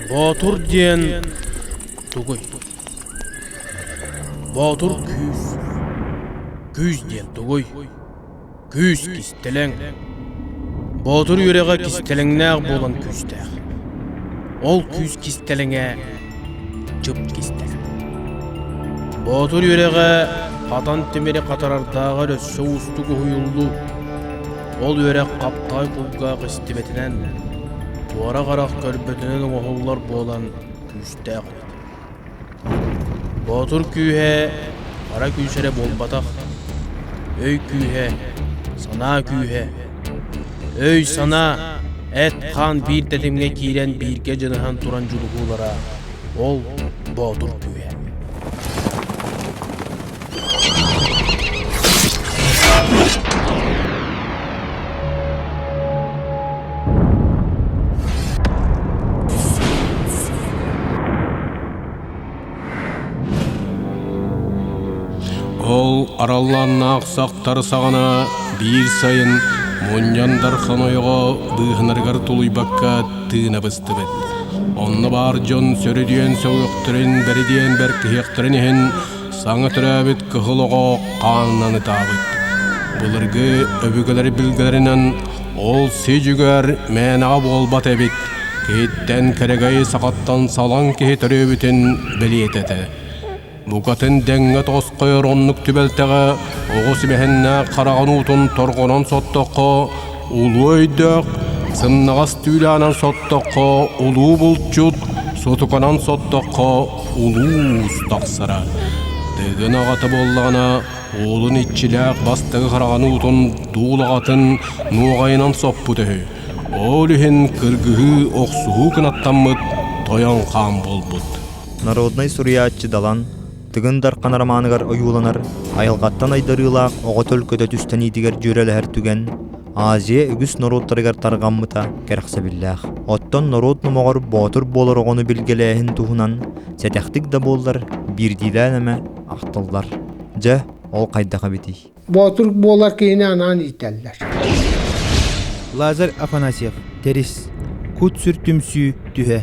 Боотур диэн тугуй? Боотур күүс. Күүс диэн тугуй? Күүс кистэлэҥ. Боотур үөрэҕэ кистэлэҥнээх буолан күүстээх. Ол күүс кистэлэҥэ чып кистэлэҥ. Боотур үөрэҕэ хатан тимири хатарардааҕар өссө уустук уһуйуллуу. Ол үөрэх хаптаҕай кулгаах истибэтинэн, туора харах көрбөтүнэн оҥоһуллар буолан күүстээх эбит. Боотур күүһэ хара күүс эрэ буолбатах, өй күүһэ, санаа күүһэ. Өй-санаа, эт-хаан биир тэтимҥэ киирэн бииргэ дьаныһан туран дьулуһуулара ол боотур күүһэ. Ол араллааннаах сахтар саҕана биир сайын мунньандар хомойоҕо быыһанарыгар тулуйбакка тыына быстыбыт. Онно баар дьон сөрүдүйэн сөҕүөхтэрин, бэридиэн бэркиһиэхтэрин иһин Саҥа төрөөбүт кыһыл оҕо хаанынан ытаабыт. Былыргы өбүгэлэр билгэлэринэн ол сидьүгэр мээнэҕэ буолбат эбит, киһиттэн кэрэгэйи сахаттан салаҥ киһи төрөөбүтүн бэлиэтэ этэ. Букатын дэҥҥэ тоскойор оннук түбэлтэҕэ оҕо симэһиннээх хараҕын уутун торҕонон соттоххо, Улуу өйдөөх, сымнаҕас түүлээнэн соттоххо улуу булчут, сотуканан соттоххо улуус тахсара. Тыгын аҕата буоллаҕына уолун иччилээх бастакы хараҕын уутун дуулаҕатын нуоҕайынан соппут үһү. Ол иһин кыргыһыы, охсуһуу кынаттаммыт тойон хаан буолбут. Народнай суруйааччы Далан Тыгын Дархан романыгар ойууланар айылҕаттан айдарыылаах оҕо төлкөтө түстэниитигэр дьүөрэлэһэр түгэн Азия үгүс норуоттарыгар тарҕаммыта кэрэхсэбиллээх. Оттон норуот номоҕор боотур буолар оҕону билгэлээһин туһунан сэтэхтик да буоллар биирдиилээн эмэ ахтыллар. Дьэ, ол хайдах эбитий? Боотур буолар киһини анаан иитэллэр. Лазарь Афанасьев, Тэрис. Кут-сүр түмсүү түһэ.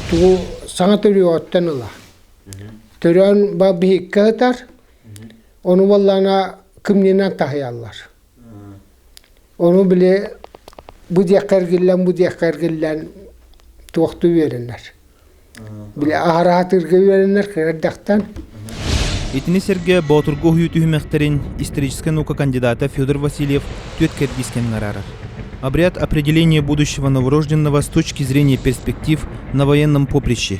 Тугу саҥа төрүөҕүттэн ыла. Төрөөн ба биһиккэ ытар, ону баллаана кымньынан таһыйаллар. Ону били бу диэххэ эргиллэн, бу диэххэ эргиллэн туохту үөрэнэр. Били аһара сатыырга үөрэнэр кыра эрдэхтэн. Итини сэргэ Боотурга уһуйуу түһүмэхтэрин историческай наука кандидата Федор Васильев түөрт кэрдиискэнин араарар. Обряд определения будущего новорожденного с точки зрения перспектив на военном поприще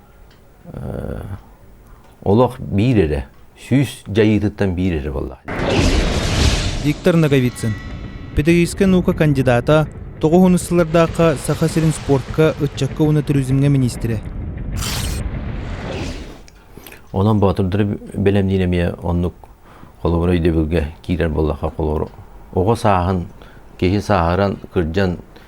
олох биир эрэ, сүүс дьайыытыттан биир эрэ буоллаҕа. Виктор Ноговицын, педагогическай наука кандидата, тоҕус сыллардаахха Саха сирин спортка, ыччакка уонна туризмҥа миниистирэ. Онон боотурдары бэлэмниир эмиэ оннук холобура өйдөбүлгэ киирэр буоллахха холобура оҕо сааһын киһи сааһыран кырдьан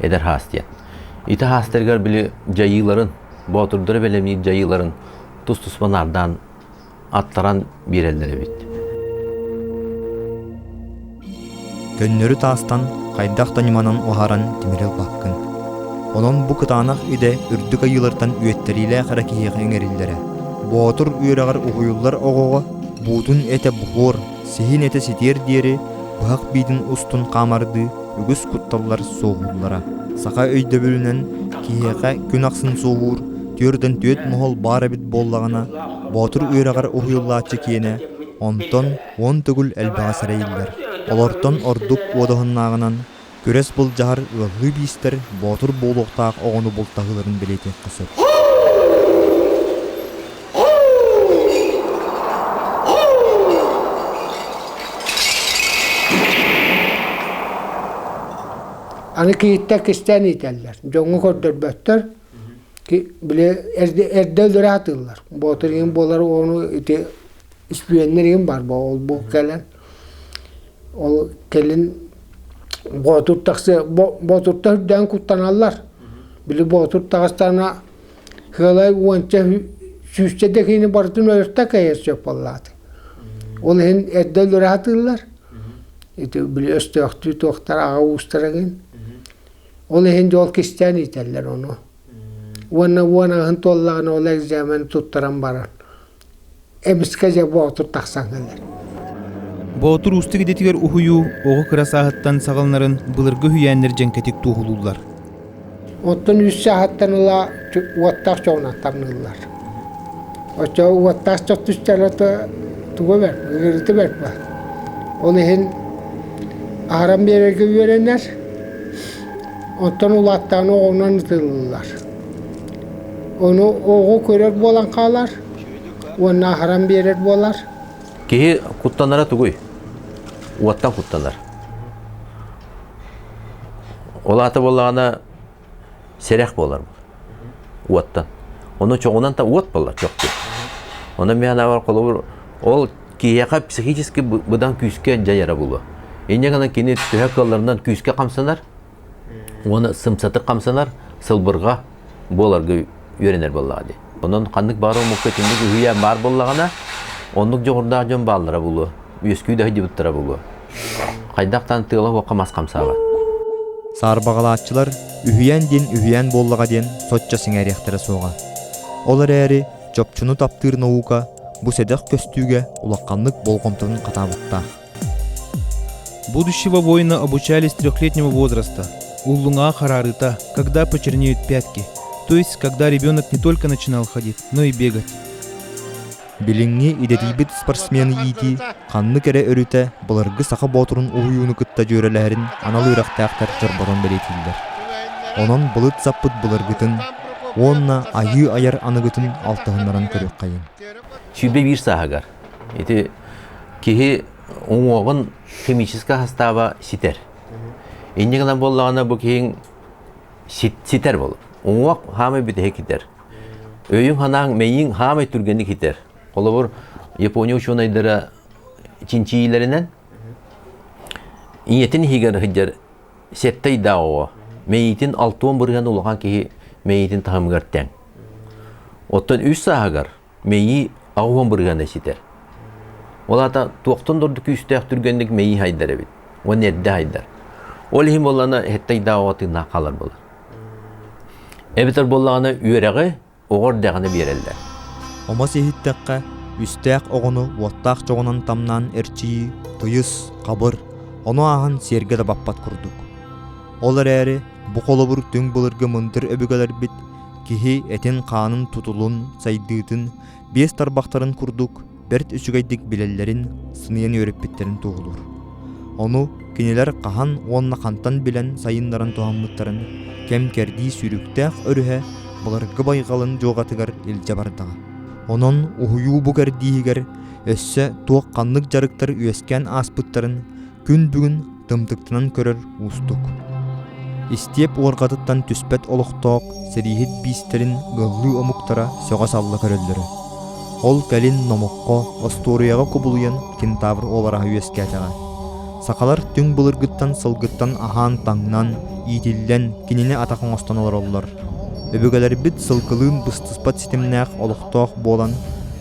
эдэр хаас диэн. Ити хаастарыгар били дьайыыларын, боотурдары бэлэмниир дьайыыларын тус-туспа наардаан аттаран биэрэллэр эбит. Көннөрү таастан хайдах да ньыманан уһаран тимири ылбаккын. Онон бу кытаанах идэ үрдүк айыылартан үөттэриилээх эрэ киһиэхэ иҥэриллэрэ. Боотур үөрэҕэр уһуйуллар оҕоҕо буутун этэ буһуор Сиһин этэ ситиэр диэри быһах биитин устун хаамардыы үгүс кутталлар суоһууллара. Саха өйдөбүлүнэн киһиэхэ күн ахсын суоһуур түөртэн түөрт моһол баар эбит буоллаҕына, боотур үөрэҕэр уһуйуллааччы киэнэ, онтон уон төгүл элбэҕэ сэрэйиллэр. Олортон ордук уодаһыннааҕынан Күрэс былдьаһар ыаллыы биистэр боотур буолуохтаах оҕону бултаһыыларын бэлиэтиэххэ сөп. Аны кийииттэр кистээн иитэллэр. Дьоҥҥо көрдөрбөттөр. Били эрдэ өлөрө атыыллар. Боотур иһин буолар ону ити үспүөннэр иһин бар бо ол бу кэлэн Ол кэлин Боотур тахсы Боотурта үрдээн куттаналлар. Били Боотур таҕастаана Хыалай уонча сүүсчэ дэкиини барытын өлөртө кэйэр сөп боллааты. Ол иһин эрдэ өлөрө сатыыллар. Ити били өстөөхтүү туохтар аҕа уустара гин. Ол иһин дьол кистээн иитэллэр ону. Уонна уон аһын туоллаҕына ол экзамен туттаран баран Эбискэ дьэ боотур тахсан кэлэр Боотур уустук идэтигэр уһуйуу оҕо кыра сааһыттан саҕаланарын былыргы үһүйээннэр дьэҥкэтик туоһулууллар. Оттон үс сааһыттан ыла уоттаах дьоҕунан тамныыллар. Оччо уоттаах дьон түстэрэ туга бэрт, ыарыыта бэрт баар. Ол иһин аһаран биэрэргэ үөрэнэр, оттон улааттаҕына оҕонон ытыллар. Ону оҕо көрөр буолан хаалар уонна аһаран биэрэр буолар. Киһи куттанара тугуй? Уоттан куттанар. Ол аата буоллаҕына сэрэх буолар уоттан. Ону чоҕунан та уот буолар чохчу. Онон мен анабар холобур ол киһиэхэ психически быдан күүскэ дьайара булуо. Инньэ гынан кини төһө кыалларынан күүскэ хамсанар уона сымсатык хамсанар сылбырга буоларга үөрэнэр буоллаҕа дии онон ханнык баар омукка итинник үһүйээн баар буоллаҕына оннук дьоҕурдаах дьон бааллара булуо үөскүү да сылдьыбыттара булуо хайдах даан тыала-уокка мас хамсааҕа саарбаҕалааччылар үһүйээн диэн үһүйээн буоллаҕа диэн соччо сиҥэриэхтэрэ суоҕа ол эрээри чопчуну таптыыр наука бу сэдэх көстүүгэ улаханнык болҕомтотун хатаабыттаах Будущего воина обучали с трехлетнего возраста. У Лунга харарыта, когда почернеют пятки, то есть когда ребенок не только начинал ходить, но и бегать. Билиҥҥи идэтийбит спортсмен иитии ханнык эрэ өрүтэ былыргы саха боотурун уһуйууну кытта дьүөрэлэһэрин анал үөрэхтээхтэр чорботон бэлиэтииллэр. Онон былыт саппыт былыргытын уонна айыы айар аныгытын алтыһыннаран көрүөххэйиҥ. Сүүрбэ биир сааһыгар Ити киһи уҥуоҕун химический састааба ситэр. Инньэ гынан буоллаҕына бу киһиҥ ситэр бол. Уҥуох хаамай бүтэһи китер. Өйүҥ ханаан мэйиҥ хаамай түргэнник китер. Холобур Япония учуонайдара чинчийилэринэн ийэтин иһигэр сыдьар сеттай да оҕо мэйитин алтуон бырыһан улахан киһи мэйитин таһымыгар тэҥ. Оттон үс сааһыгар мэйии аҕуһун бырыгана ситэр. Ол аата туохтан дорду күүстээх түргэнник мэйии хайдар эбит. Уон эрдэ хайдар. Ол иһин боллана хэттайдаа оҕа тыыннаах хаалар болар. Эбэтэр боллаҕына үөрэҕи оҕор дэҕіне биэрэллэр. Омос иһиттэххэ, үстээх оҕону уоттаах чоҕунан тамнаан эрчийии тыйыс, хабыр, ону ааһан сиэргэ да баппат курдук. Ол эрээри бу холобур түҥ былыргы мындыр өбүгэлэрбит Киһи этин-хаанын тутулун, сайдыытын, биэс тарбахтарын курдук бэрт үчүгэйдик билэллэрин, сыныйан үөрэппиттэрин туоһулуур. Ону кинилэр хаһан уонна хантан билэн сайыннаран туһаммыттарын кэм-кэрдии сүүрүктээх өрүһэ былыргы байҕалын дьуоҕатыгар илдьэ бардаҕа. Онон уһуйуу бу кэрдииһигэр өссө туох ханнык дьарыктар үөскээн ааспыттарын күн бүгүн тымтыктанан көрөр уустук. Истиэп уорҕатыттан түспэт олохтоох сэрииһит биистэрин гыллыы омуктара сөҕө-салла көрөллөрө. Ол кэлин номоххо, остуоруйаҕа кубулуйан кентавр олараһа үөскээтэҕэ. Сахалар түҥ былыргыттан сылгыттан аһаан-таҥнан, иитиллэн, кинини атах оҥостон олороллор. Өбүгэлэрбит сылгылыын быстыспат ситимнээх олохтоох буолан,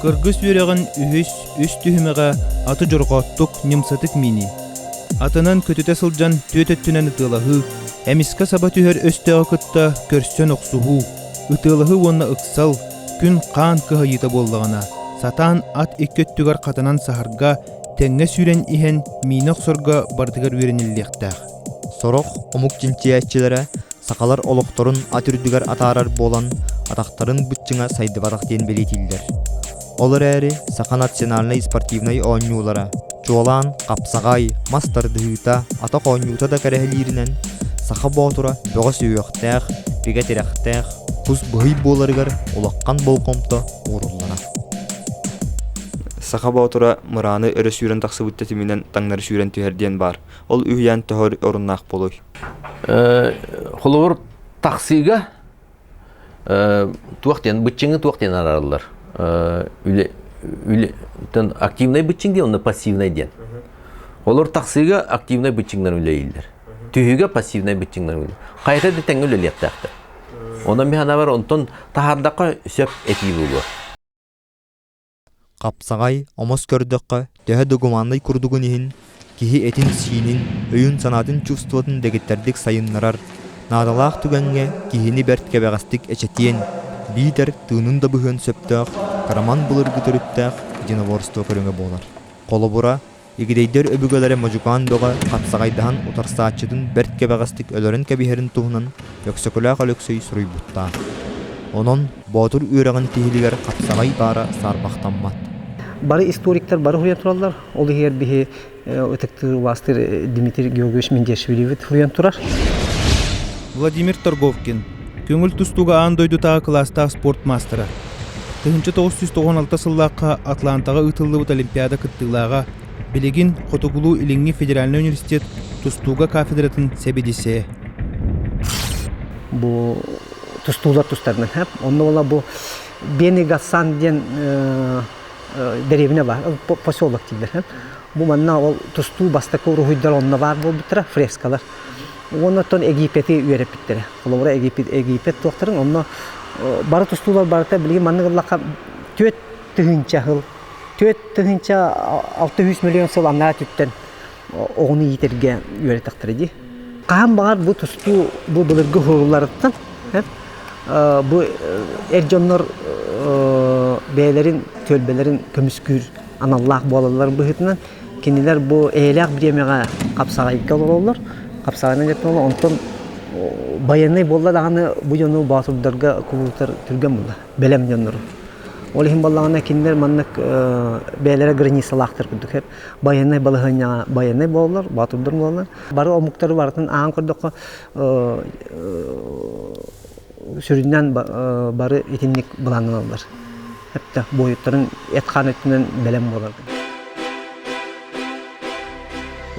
Кыргыс үөрэҕин үһүс, үс түһүмэҕэ аты дьорҕооттук, ньымсатык миинии. Атынан көтүтэ сылдьан түөрт өттүнэн ытыалаһыы, эмискэ саба түһэр өстөөҕү кытта көрсөн охсуһуу, ытыалаһыы уонна ыксал, күн хаан кыһайыыта буоллаҕына, сатаан ат икки өттүгэр хатанан саһарга, тэҥҥэ сүүрэн иһэн миинэ охсорго барытыгар үөрэниллиэхтээх. Сорох омук чинчийээччилэрэ сахалар олохторун ат үрдүгэр атаарар буолан атахтарын быччыҥа сайдыбатах диэн бэлиэтииллэр. Ол эрээри саха национальнай спортивнай оонньуулара, чуолаан хапсаҕай, мас тардыһыыта, атах оонньуута да кэрэһилииринэн, саха боотура бөҕө-сүһүөхтээх, бигэ тирэхтээх, кус быһый буоларыгар улахан болҕомто ууруллара. Саха боотура мырааны өрө сүүрэн тахсыбыт тэтиминэн таҥнары сүүрэн түһэр диэн баар. Ол үһүйээн төһө оруннаах болуй? Холобур, таксига туох диэн, быччыҥы туох диэн арараллар? активнай быччыҥ диэн, онно пассивнай диэн. Олор таксига активнай быччыҥнар үлэлейлер. Түһүгэ пассивнай быччыҥнар үлэлейлер. Хайта да тэҥэ үлэлиэхтээхтэр. Онон механабар онтон таһардахха сөп этии буолуо. Хапсаҕай, омос көрдөххө, төһө да гуманнай курдугун иһин, киһи этин-сиинин, өйүн-санаатын чувствотун дэгиттэрдик сайыннарар, наадалаах түгэҥҥэ киһини бэрт кэбэҕэстик эчэтиэн, биитэр тыынын да быһыан сөптөөх, кыраман былыргы төрүттээх единоборство көрүҥэ буолар. Холобура, Игидэйдэр өбүгэлэрэ модьукаан бөҕө хапсаҕайдаһан утарсааччытын бэрт кэбэҕэстик өлөрөн кэбиһэрин туһунан Өксөкүлээх Өлөксөй суруйбуттаах. Онон боотур үөрэҕин тиһилигэр хапсаҕай баара саарбахтаммат. Бары историктар бары уһуйан тураллар. Ол иһигэр биһи ытыктыыр-убаастыыр Дмитрий Георгиевич Менделшевиривы уһуйан турар. Владимир Торговкин көҥүл тустууга аан дойдутааҕы кылаастаах спорт маастара. Тыһыынча тоҕус сүүс тоҕуон алта сыллаахха Атлантаҕа ыытыллыбыт Олимпиада кыттыылааҕа, билигин Хотугулуу-Илиҥҥи федеральнай университет тустууга кафедратын сэбиэдиссэйэ. Бу тустуулар тустарынан хап. Онно уола бу Бены Галсан диэн дэриэбинэ бар, поселок дииллэр. Бу манна ол тустуу бастакы уруһуйдар онно баар буолбуттара, фрескалар. Уонна оттон Египети үөрэппиттэрэ. Холобура, Египет туохтарын, онно бары тустуулар барыта билигин маннык ыллахха түөрт тыһыынча сыл, түөрт тыһыынча алта үс миллион сыл анараа өттүттэн оҕону иитэргэ үөрэтэхтэрэ дии. Хаһан баҕар бу тустуу бу былыргы уһулларыттан бу эр дьоннор бэйэлэрин түөлбэлэрин көмүскүүр аналлаах буолалларын быһыытынан Кинилэр бу эйэлээх бириэмэҕэ хапсаҕайга олороллор. Хапсаҕайынан кэттилэр, онтон байыаннай буолла даҕаны бу дьону боотурдарга кулуутар түргэн буолла, бэлэм дьоннору. Ол иһин буоллаҕына кинилэр маннык бэйэлэрэ границалаахтар курдук байыаннай балаһыанньаҕа байыаннай буолаллар, боотурдар буолаллар. Бары омуктары барытын аан көрдөххө сүрүннээн бары итинник былаанналаллар. Эптэ буойуттарын эт-хаан өттүнэн бэлэм буолар.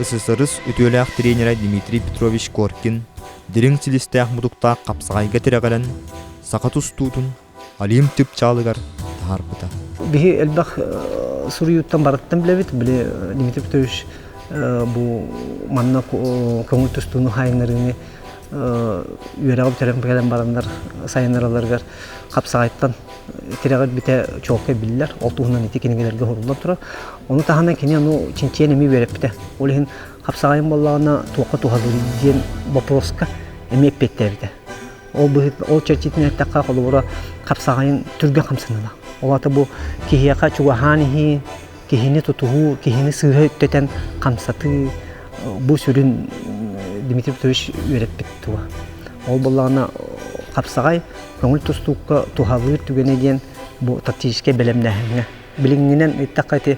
ССРС үтүөлээх тренера Дмитрий Петрович Коркин дириҥ силистээх-мутуктаах хапсаҕайга тирэҕирэн саха тустуутун Олимп түпчаалыгар таһаарбыта. Биһи элбэх суруйууттан барыттан билэбит, били Дмитрий Петрович бу манна көҥүл тустууну хайыннарыыны үөрэҕи бүтэрэн кэлэн бараннар сайыннараларыгар хапсаҕайтан тирэҕир бүтэ чуолкай биллэр ол туһунан ити кинигэлэргэ уһурулла турар ону таһынан кини ону чинчийэн эмиэ үөрэппитэ ол иһин хапсаҕайым буоллаҕына туохха туһалыый диэн боппуруоска эмиэ эппиэттээбитэ ол ол чэрчитинэн эттэххэ холобура хапсаҕайын түргэн хамсаныылаах ол аата бу киһиэхэ чугаһаан иһии киһини тутуһуу, киһини сыыһа үттэтэн хамсатыы бу сүрүн Дмитрий Петрович үөрэппит тула. Ол буоллаҕына хапсаҕай көҥүл тустуукка туһалыыр түгэнэ диэн бу тактическай бэлэмнээһиҥҥэ. Билиҥҥинэн эттэххэ ити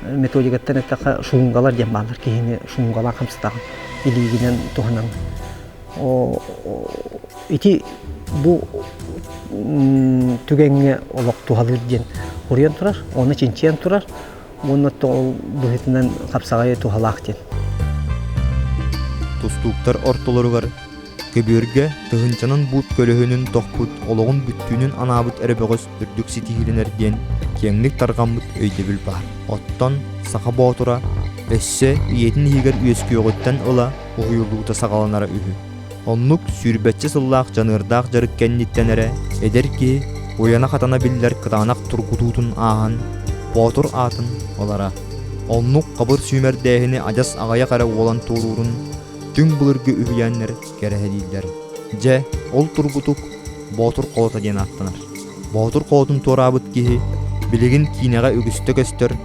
методикаттан эттэххэ шунгалар диэн бааллар киһини шунгалаан хамсатаҕын. Илиигинэн туһанан Ити бу түгэҥҥэ олох туһалыыр диэн уруйан турар, уонна чинчийэн турар уонна быһыытынан хапсаҕайы туһалаах диэн. Тустууктар ортолоругар көбүөргэ тыһынчанан буут көлөһүнүн тохпут олоҕун бүттүүнүн анаабыт эрэ бөҕөс үрдүк ситиһиилэнэр диэн киэҥник тарҕаммыт өйдөбүл баар. Оттон Саха Боотура өссө ийэтин иһигэр үөскүөҕүттэн ыла уһуйуллуута саҕаланара үһү. Оннук сүүрбэччэ сыллаах дьаныардаах дьарык кэнниттэн эрэ эдэр киһи уйана-хатана биллэр кытаанах тургутуутун ааһан, боотур аатын ылара. Оннук хабыр сүүмэрдээһини адьас аҕыйах эрэ уолан туоруурун түҥ былыргы үһүйээннэр кэрэһэлииллэр. Дьэ, ол тургутук Боотур Хоото диэн ааттанар. Боотур Хоотун туораабыт киһи билигин киинэҕэ үгүстэ көстөр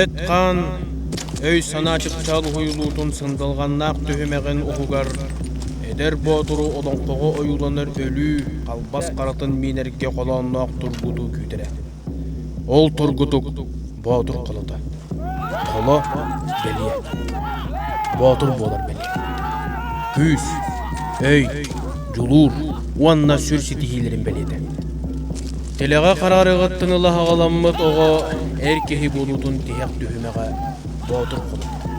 эт-хаан өй-санаа чыпчаал уһуйулуутун сындылҕаннаах түһүмэҕин уһугар эдэр боотуру олоҥхоҕо ойууланар өлүү халбас харатын миинэргэ холоонноох тургуту күүтэрэ. Ол тургутук боотур холото. Холо бэлиэ. Боотур буолар бэлиэ. Күүс, өй, дьулуур уонна сүр ситиһиилэрин бэлиэтэ. Тэлэҕэ хараарыгыттан ыла аҕаламмыт оҕо эр киһи буолуутун тиһэх түһүмэҕэ боотур холбоһор.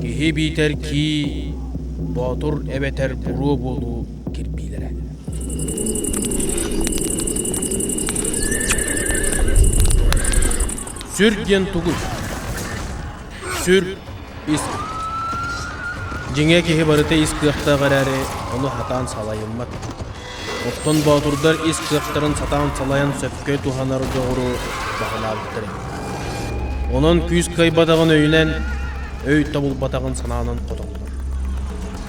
Киһи биитэр кии, боотур эбэтэр буруо буолуу кирбиилэрэ. Сүр диэн тугуй? Сүр ис. Дьиҥэ киһи барыта ис кыахтаах эрээри, ону хатаан салайыммат. Оттон боотурдар ис кыахтарын сатаан салайан сөпкө туһанар дьоҕуру баһылаабыттар эбит. Онон күүс кыайбатаҕын өйүнэн, өй тобулбатаҕын санаанан хотоллор.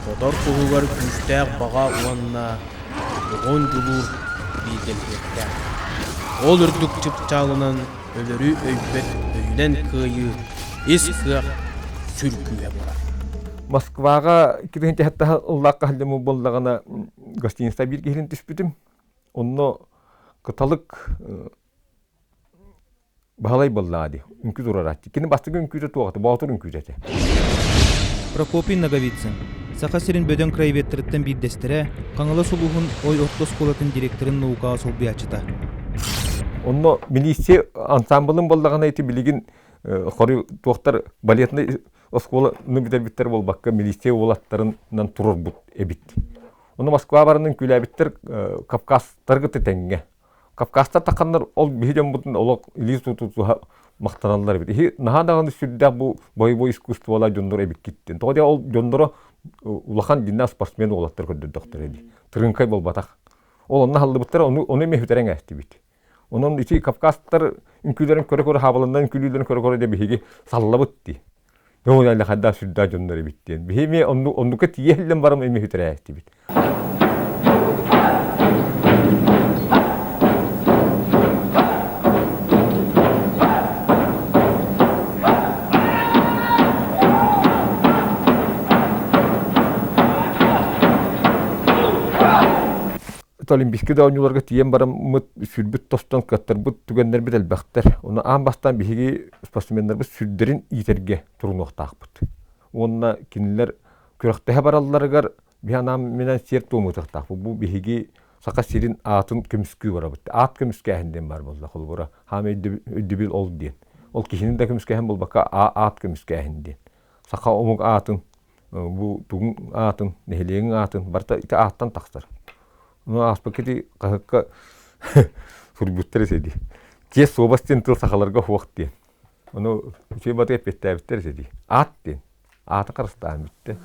Хотор туһугар күүстээх баҕа уонна оҕон дьулуур бииргэлиһиэхтээх. Ол үрдүк чыпчаалынан өлөрү өйбөт өйүнэн кыайыы ис кыах сүргүүһэ буолар. Москваҕа кириэнчэһиттэх ыллаах хаһылдьыммыт буоллаҕына гостиница биир киһилин түспүтүм. Онно кыталык баһылай боллаа ди үҥкү турараччы. Кини бастыгы үҥкүүтэ туохата, боотур үҥкүүтэ этэ. Прокопий Ноговицын, Саха сирин бөдөҥ краеведтарыттан биирдэстэрэ, Хаҥалас улууһун Ой орто оскуолатын директорын наукаҕа солбуйааччыта. Онно милиция ансамблын боллаҕына ити билигин хоруй туохтар балетнай оскуоланы бүтэрбиттэр буолбакка, милиция уолаттарынан турарбут эбит. Ону Москва баранын күлээбиттэр Кавказтары кытта тэҥҥэ. Кавказтар таханнар ол биһи дьоммутун олох илии тутутуһа махтаналлар эбит. Иһи наһаа даҕаны сүрдээх бу бойобуой искусстволар дьонноро эбиккиттин. Тоҕо диэн ол дьонноро улахан динна спортсмен уолаттар көрдөрдөхтөр эбит. Тырыҥкай буолбатах. Ол онно аһыллыбыттар, ону эмиэ бүтэрэҥ ээстибит. Онон ити кавказтар үҥкүүлэрин көрө-көрө хаабаланнар үҥкүүлүүлэрин көрө-көрө да биһиги саллабыт дии. Ол эле хайда сүрдаа дьоннор эбит диэн. Биһими оннука тииһэллэн барам эми хүтэрээттибит. Олимпийскай да оонньууларга тиийэн бараммыт, сүрбүт тостон кыаттарбыт түгэннэрбит элбэхтэр. Ону аан бастаан биһиги спортсменнарбыт сүрдэрин иитэргэ турунуохтаахпыт. Уонна кинилэр күрэхтэһэ баралларыгар биһи анаан минэн сиэр-туом ытыахтаахпыт. Бу биһиги Саха сирин аатын көмүскүү барабыт. Аат көмүскээһин диэн баар буолла холобура хаам өйдөбүл ол диэн. Ол киһини да көмүскээһин буолбакка аат көмүскээһин диэн. Саха омук аатын бу тугуҥ аатын, нэһилиэгиҥ аатын барыта ити ааттан тахсар. Ону ааспыкка ити хаһыкка суруйбуттар эсэ дии. Чиэс суобас диэн тыл сахаларга хуох диэн. Ону үчүгэй батый эппиэттээбиттэр эсэ дии. Аат диэн. Аата харыстааһын бүттэ.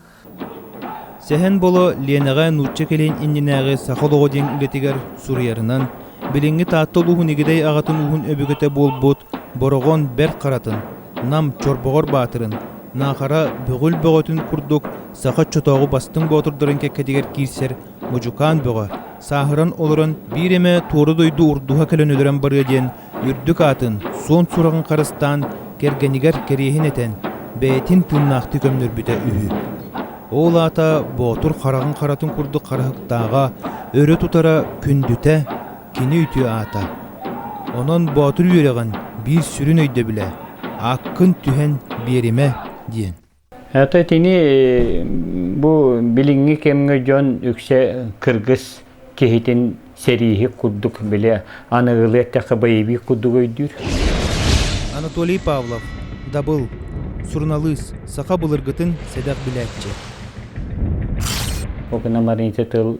Сэһэн Боло Ленэҕэ нуучча кэлин иннинээҕи саха олоҕо диэн үлэтигэр суруйарынан, билиҥҥи Таатта улууһун Игидэй аҕатын ууһун өбүгэтэ буолбут Бороҕон бэрт харатын, Нам Чорбоҕор баатырын, Наахара Бөҕүл бөҕөтүн курдук саха оччотооҕу Бастыҥ боотурдарын кэккэтигэр киирсэр модьукаан бөҕө, сааһыран олорон биир эмэ туора дойду урдуһа кэлэн өлөрөн барыа диэн үрдүк аатын, суон сураҕын харыстаан, кэргэнигэр кэриэһин этэн, бэйэтин тыыннаахтыы көмнөрбүтэ үһү. Ол аата Боотур хараҕын харатын курдук харахтааҕа, өрө тутара, күндүтэ, кини үтүө аата. Онон боотур үөрэҕин биир сүрүн өйдөбүлэ ааккын түһэн биэримэ диэн. Ата итини бу билиҥҥи кэмҥэ дьон үксэ кыргыс киһитин сэрииһи курдук бile аныгылыы эттэхэ боевик курдук өйдүүр. Анатолий Павлов, дабыл, суруналыыс, саха былыргытын сэдэх билээччи. Ол гынан баран ити тыл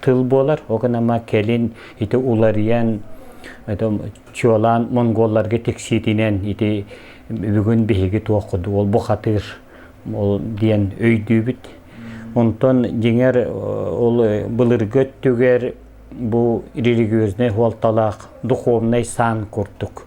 тыл буолар ол гынан кэлин ити уларыйан чуолаан монголларга тиксиитинэн ити бүгүн биһиги туоххуту ол бухатыыр ол диэн өйдүүбүт онтон дьиҥэр ол былыргы өттүгэр бу религиознай хуолталаах духовнай саан курдук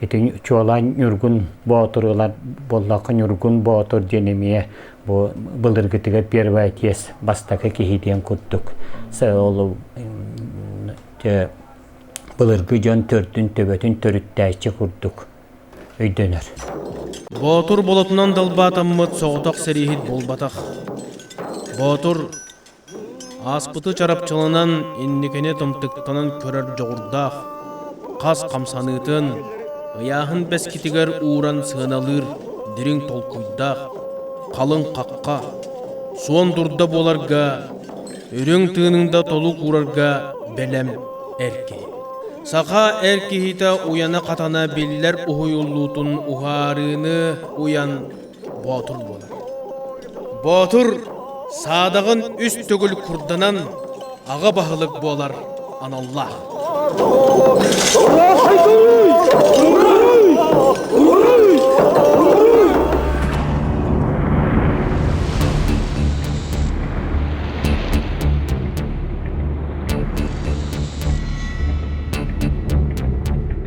Итин чуолаан Ньургун Боотуруулар буоллахха Ньургун Боотур диэн эмиэ бу былыргытыгар первая тес бастакы киһи диэн курдук ол былыргы дьон төрдүн төбөтүн төрүттээччи курдук өйдөнөр Боотур болотунан далбаатаммыт соҕотох сэрииһит буолбатах Боотур Ааспыты чарапчыланан инникини тымтыктанан көрөр дьоҕурдаах, хас хамсаныытын, ыйааһын бэскитигэр ууран сыаналыыр дириҥ толкуйдаах, халыҥ хахха, суон дурда буоларга, үрүҥ тыыныҥда толук уурарга бэлэм эр киһи. Саха эр киһитэ уйана-хатана биллэр уһуйуллуутун уһаарыыны уйан боотун буолар боотур саадаҕын үс төгүл курданан аҕа баһылык буолар аналлаах